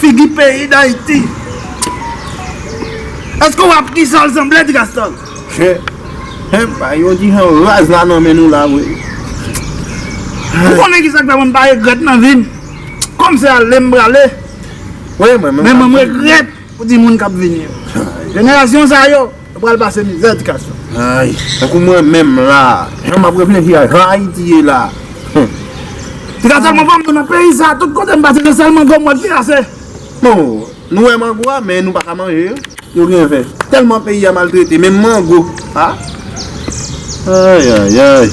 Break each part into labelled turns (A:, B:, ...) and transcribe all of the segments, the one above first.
A: Figi peyi dayiti. Eske ou ap ki jan l sanble ti gaston. Humm bay
B: yon ti jan raz la nan men nou la vre.
A: Ou konnen ki sak fè mwen m pa regrèt nan vi m. Kòm se ale m prale.
B: Men mwen m
A: regrèt pou timoun k ap vini yo. Jenerasyon sa yo. Nou pral pase mizè edikasyon. Ayy, tankou
B: mwen menm la. Jan map reflechi a jan Ayiti ye la.
A: Se ka sèlman pa mwen nan peyi sa, tout kote m pase se sèl mango mwen ki rase. Bon,
B: nou wè mango a men nou pa ka manje yo. Yo gen vè. Tèlman peyi a maltrete, menm mango a. Ayayayy.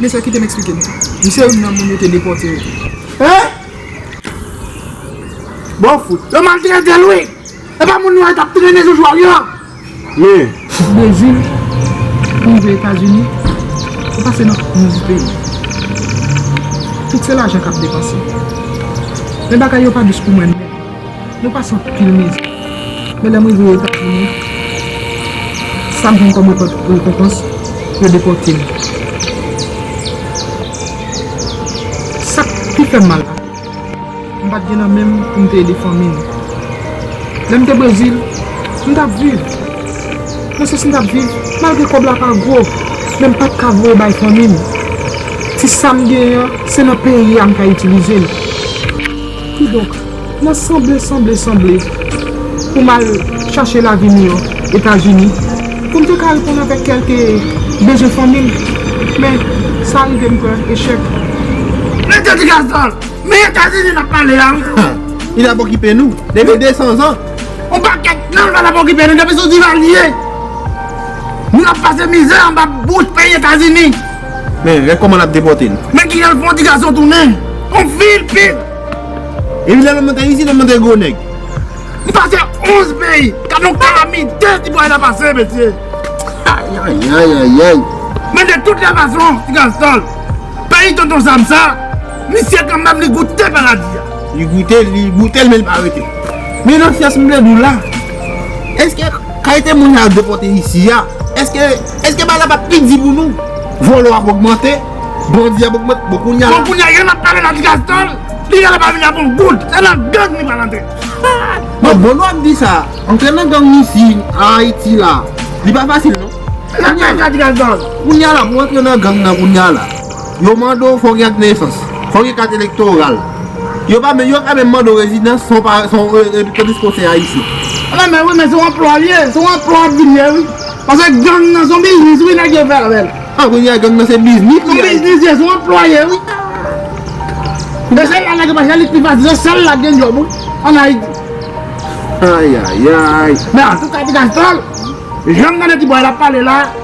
C: Men sa kite m eksplike nou. M se youn nan moun yo te depòte yo tou. Hein?
A: Bon fout. Yo maltrete l wi. E pa moun nwa yo t ap trennen joujou a wi an. Men.
B: Brezil
C: pou rive Etazini ou pase nan 11 peyi. Tout se lajan k ap depanse. Men bagay yo pa dous pou mwen non. Mwen pase anpil mizè. Men lè m rive Etazini, sa m jwenn kòm rekonpans, yo depòte m. Sa k pi fè m mal la, m pa t gen nan men m pou m te ede fanmi m. Lè m te Brezil, m t ap viv. Mwen santi m t ap viv malgre kòb la pa gwo, men m pa t ka voye bay fanmi m. Ti sa m genyen an, se nan peyi a m ka itilize l. Kidonk, nan sanble sanble sanble pou m al chache lavi miyò Etazini, pou m te ka reponn avèk kèlke bezwen fanmi m, men sa rive m pran echèk. Mete
A: ti gaz dan l! Men Etazini n ap pale a wi! Li t ap okipe
B: nou depi 200 zan! On pakèt
A: nan pa t ap okipe nou depi sou Divalye! Nou t ap pase mizè anba bouch peyi Etazini! Men rèk kòman
B: nap depòte l. Men kijan l fè yon ti gason
A: tounen yon vil pil. Epi
B: lè lòm nan te isit lòm nan te gwo nèg. Li pase
A: 11 peyi. Gad yon kalamite ti bòy la pase mesye.
B: Ayayayayayay. Men de tout lè
A: fason ti gason peyi tonton Sam sa misye kanmèm li goute paradi a. Li goute l
B: li goute l men li pa rete. Men nan fyès m vle di w la. Eske. Kalite moun yap depote isi a eske eske bagay la pap pi di pou nou volo ap ogmante bandi ap ogmante bon kounya la. Bon kounya yonn ap pale nan
A: gas tanl li genlè pa vini ak yon goud se nan gang li pral antre bon
B: volo ap di sa antre nan gang isi an ayiti la li pa fasil non kounya la
A: kounya la pou antre
B: nan gang nan kounya la. Yo mande w fò w gen ak nesans, fò w gen kat elektoral. Yo pa menm, yo ka menm mande w rezidans san w pa, san w, tandiske w se Ayisyen. Ala men wi men se yon
A: anplwa li ye, se yon anplwa ap vin ye wi. Pase gang nan se yon biznis wi nèg yo fè avè l. Ah kounye a gang nan se
B: biznis li ye. Se yon biznis li ye, se yon
A: anplwa li ye wi. E se la nèg yo pa chèche li pi fasil, se sèl la ki gen djòb wi an Ayiti.
B: Ayayayy. Men antouka ti
A: Castor, jan m tande ti bòy la ap pale la.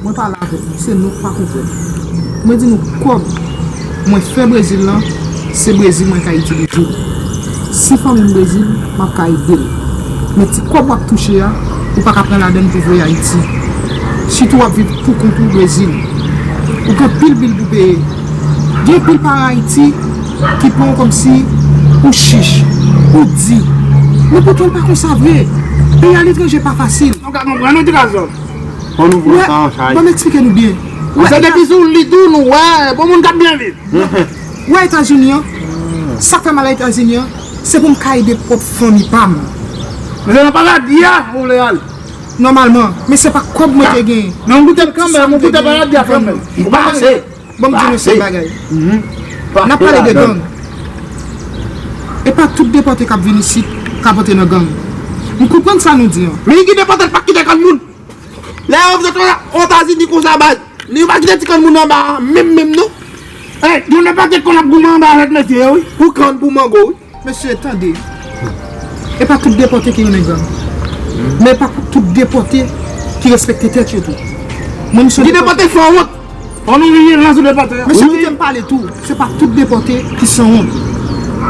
C: Mwen pale avek nou se nouk pa konprann mwen di nou kob mwen fè brezil lan se brezil mwen ka itilize l si fanmim brezil map ka edel men ti kob wap touche a ou paka pran ladann pou voye ayiti sitou wap viv pou kont ou brezil ou gen pil bil pou peye gen pil paran ayiti ki pran w komsi ou chich ou di men poutan l pa konsa vre peyi aletranje pa fasil.
A: Fò nou pran san an
B: chay. Banm eksplike nou byen.
C: Ou se depi sou
A: lit ou nou wè bon moun kap byen viv. Ou wè
C: etazini an? Sak fè mal a etazini an? Se poum ka ede pwòp fanmi pam. Men se nan
A: paradi a ou vle al. Nòmalman.
C: Men se pa kòb mwen te gen. Men ou goutel kanmenm, ou
A: goute paradi a kanmenm. Ou pase.
B: Banm di nou se
C: bagay. Nap pale de gang. E pa tout depòte kap vin isit kap antre nan gang. M konprann sa nou di an. Men ki depòte l pa kite
A: granmoun. Lè yo vle fè otazini konsa baz Li yo pa kite ti kòn moun anba menm menm non Hey gen de pakèt kòn ap goumen anba avèk mesye yo wi Pou kann pou mango wi.
B: Mesye tande
C: E pa tout depòte ki renmen zam Men e pa tout depòte ki respekte tèt yo tou Mwen m son depòte Gen depòte fò wont
A: An nou riye la sou depòte yo. Mesye kite m pale tou,
C: se pa tout depòte ki sanwont.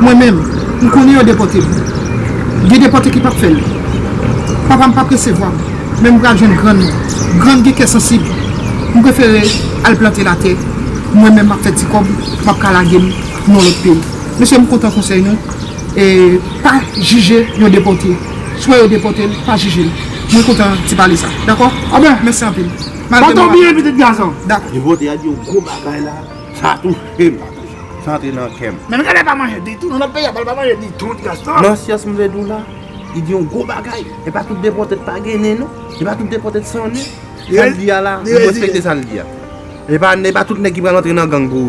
C: Mwen menm, m konnen yon depòte. Gen depòte ki pap fè l. Papa m pap resevwa m, men m pral jwenn grann mwen. Grann gen kè sansib. M prefere al plante latè. Mwen menm m ap fè ti kòb, m ap ka lage m nan yon lòt peyi. Mesye m kontan konsèy nou. Pa jije yon depòte. Si w wè yo depòte l, pa jije l. Mwen kontan ti pale sa. Dakò? Mèsi anpil. Malgre m
A: pa vle di. Yo vote a di yon
C: gwo
B: bagay la, sa touche m, sa antre nan kè m. Menm Gade pa manje ditou,
A: nan lòt peyi a pa manje ditou ti Gaston. Nan syans m vle di w la,
B: li di yon gwo bagay. E pa tout depòte k pa gen nen non. E pa tout depòte k san nen. Sa l di a la, m respekte sa l di a. E pa e pa tout nèg ki pral antre nan gang pou.